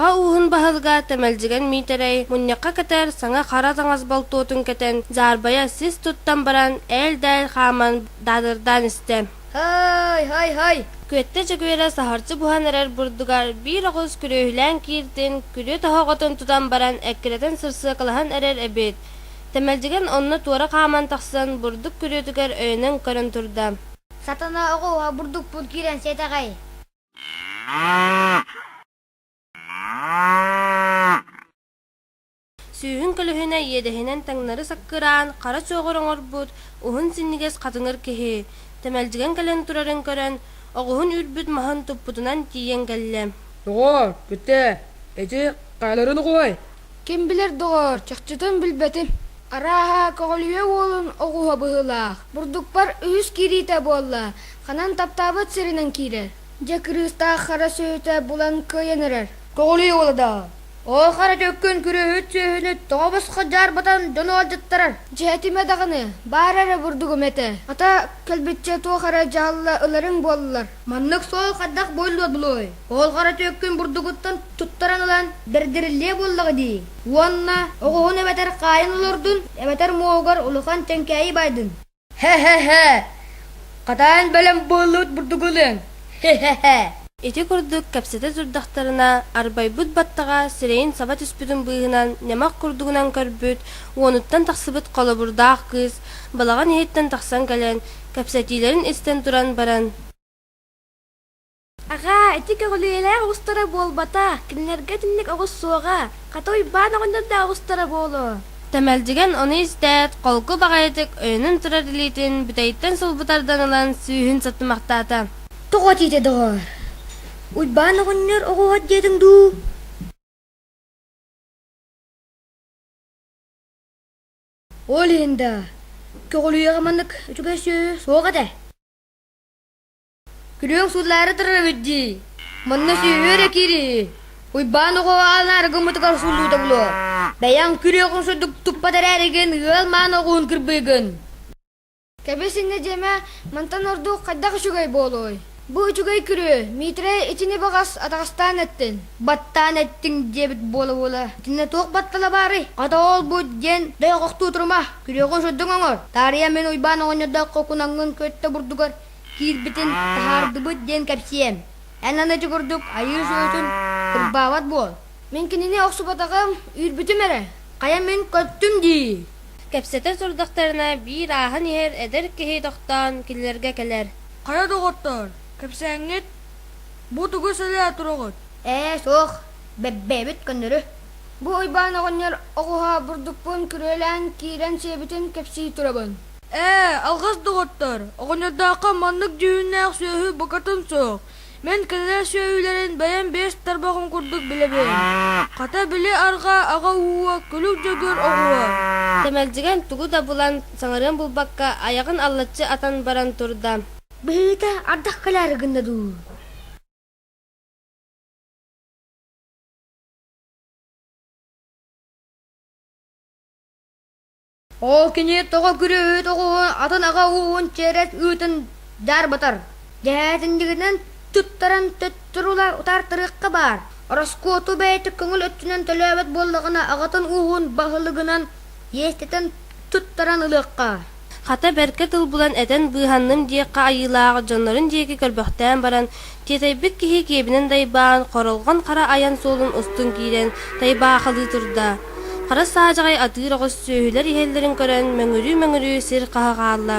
Аҕа ууһун баһылыга Тэмэлдьигэн Миитэрэй мунньахха кэтэр саҥа хара таҥас болтуотун кэтэн дьаарбайа сис туттан баран ээл-дээл хааман даадырдаан истэ. Һай, һай, һай! Күөттэ Чөкүөрэ саһарчы буһан эрэр бурдугар биир оҕус күрүөһүлээн кииртин, күрүө тоһоҕотун тутан баран эккирэтэн сырсыакалаһан эрэр эбит. Тэмэлдьигэн онно туора хааман тахсан бурдук күрүөтүгэр өйөнөн көрөн турда. Сатана оҕо уһа бурдукпун киирэн сиэтэҕэй Сүүһүн көлөһүнэ иэдэһинэн таҥнары саккыраан хара чоҕор оҥорбут уһун синньигэс хатыҥыр киһи тэмэлдьигэн кэлэн турарын көрөн оҕуһун үрбүт маһын туппутунан тиийэн кэллэ. Оо, бүтэ, ити хааларын угуой Ким билэр, доҕоор, чахчытын билбэтим. Арааһа, көҕүлүйэ уолун оҕуһа быһыылаах. Бурдукпар үһүс киириитэ буолла. Ханан таптаабыт сиринэн киирэр. Дьэ, кырыыстаах хара сүөһүтэ булан кыайан эрэр. Көҕүлүй уоладаа, оо хара төккүн күрүөһүт сүөһүнү тоҕо босхо дьаарбатан дьон ыалдьыттарар. Дьэ этимэ даҕаны, баар эрэ бурдугум этэ. Хата, кэлбиччэ туох эрэ дьаһалла ыларыҥ буоллар. Маннык суол хайдах буолуо булуой? Оолҕара түөккүн бурдугуттан туттаран ылан бэрдэриллиэ буоллаҕа дии. Уонна оҕуһун эбэтэр хаайын олордун, эбэтэр муоһугар улахан тэҥкээйи баайдын. Һэ-һэ-һэ! Хатаан бэлэм буоллубут бурдугу ылыаҥ. Һэ-һэ-һэ! Ити курдук кэпсэтэ турдахтарына, арбайбыт баттаҕа сирэйин саба түспүтүн быыһынан ньамах курдугунан көрбүт, уонуттан тахсыбыт холобурдаах кыыс балаҕан иһиттэн тахсан кэлэн Кэпсэтиилэрин истэн туран баран Аҕаа, ити көҕүлүйэлээх оҕустара буолбата, кинилэргэ итинник оҕус суоҕа. Хата Уйбаан оҕонньордоох оҕустара буолуо. Тэмэлдьигэн ону истээт, холку баҕайытык өйөнөн турар илиитин бүтэйиттэн сулбутардан ылан сүүһүн саттымахтаата. Тоҕо тиитэ доҕоор? Уйбаан оҕонньор оҕуһат диэтиҥ дуу? Ол иһин да көҕүлүйэҕэ маннык үчүгэй сүөһү суох этэ. Күлүөҥ сууллаары турарыт дии, манна сүөһү эрэ киирии, Уйбаан оҕо анаары гыммытыгар сууллуута булуо. Бэйэҥ күрүөҕүн сурдук туппат эрээригин ыал маан оҕуһун кырбыыгын. Кэбис-иннэ дьиэмэ, мантан ордук хайдах үчүгэй буолуой? Бу үчүгэй күрүө, Миитэрэй итини баҕас атаҕастаан эттин, баттаан эттиҥ диэбит буола-буола, итиннэ туох баттала баарый, хата ол-бу диэн дойҕохтуу турума, күрүөҕү сырдыҥ оҥор, таарыйа мин Уйбаан оҕонньордооххо кунаҥҥын көттө бурдугар киирбитин таһаардыбыт диэн кэпсиэм. Эн аны ити курдук айыы-суотун кырбаабат буол. Мин кинини охсубатаҕым, үүрбүтүм эрэ, хайа мин көттүм дии кэпсэтэ сурдахтарына биир ааһан иһэр эдэр киһи тохтоон кинилэргэ кэлэр Хара доҕоттоор, кэпсээҥҥит бу тугу сэлээ туруоҕут? Ээ суох, бэбэбэбит көннөрү Бу Уйбаан оҕонньор оҕуһа бурдукпун күрүөлээн киирэн сиэбитин кэпсии турабын Ээ, алҕас доҕоттоор, оҕонньордооххо маннык дьүһүннээх сүөһү букатын суох Мин кинилэр сүөһүлэрин бэйэм биэс тарбаҕым курдук билэбин: хата били арҕаа аҕа ууһа, күлүк дьөгүөр оҕуһа. Тэмэлдьигэн тугу да булан, саҥарыан булбакка, айаҕын аллаччы атан баран турда: «Быһыыта, ардах кыляары гынна дуу?» Ол кини тоҕо күрүөһүт оҕуһун атын аҕа ууһун чиэрэс үүтүн дьаарбатар, дэһээтинньигинэн туттаран төттөрүлэр утаартарыахха баар, ороскуоту бэйэтэ көҥүл өттүнэн төлөөбөт буоллаҕына аҕатын ууһун баһылыгынан иэстэтэн туттаран ылыахха. Хата бэркэ тыл булан этэн быыһанным диэххэ айыылаах дьоннорун диэки көрбөхтөөн баран Тиэтэйбит киһи киэбинэн дайбаан, хоролҕон хара айан суолун устун киирэн, тайбаахалыы турда. Хара саадьаҕай атыыр оҕус сүөһүлэр иһэллэрин көрөн, мөҥүрүү-мөҥүрүү сир хаһа хаалла.